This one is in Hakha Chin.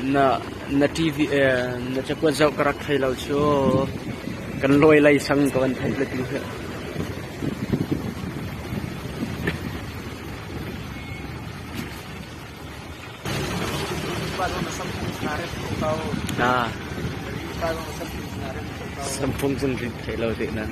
Na TV na cakuat zoh ka rak thei lo cu. Kan lawi lei sang ka van theih le tu hi. Samphung cun thei lo teh nan.